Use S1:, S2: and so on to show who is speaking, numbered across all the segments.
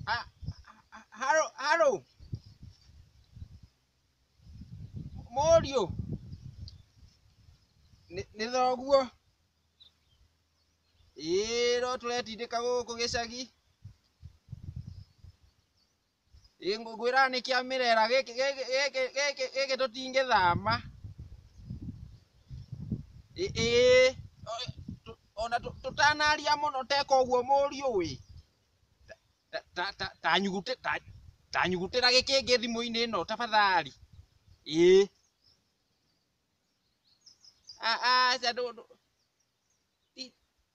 S1: Ah, ah, Haro, haro. Mũriũ. Nĩ nĩ thoguo. Ĩĩ no tũretindĩka gũkũ gĩcagi. Ĩ ngwĩraga nĩ kĩa mĩrera gĩkĩ gĩkĩ gĩkĩ gĩkĩ gĩkĩ tũtingĩthama. Ĩ ĩ ona tũtanaria mũno teka ũguo mũriũ ĩ. Ta ta ta nyugutĩ ta ta nyugutĩra gĩkĩ kĩngĩ thimũ-inĩ ĩno tafadhali. Ĩ. Aca ndũ ndũ ti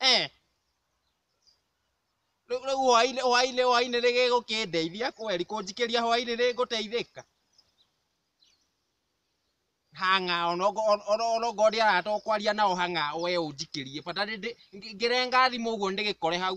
S1: Eh. Rĩu rĩu hwainĩ hwainĩ hwainĩ nĩ gĩgũkĩndeithia kweri kũnjikĩria hwainĩ nĩ ngũteithĩka hang'a ona ũngũ- ona- ona ona ũngorwo ndĩ haha to kwaria nao hang'a we ũnjikĩrie bata nĩ ndĩ- ngĩ- ngĩrenga thimũ ũguo ndĩgĩkore hau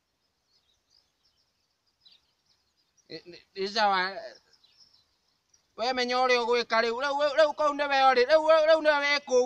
S1: nĩ sawa we menya ũrĩa ũgwĩka rĩu rĩu kũu nĩwe ũrĩ rĩu nĩwe wĩ kũu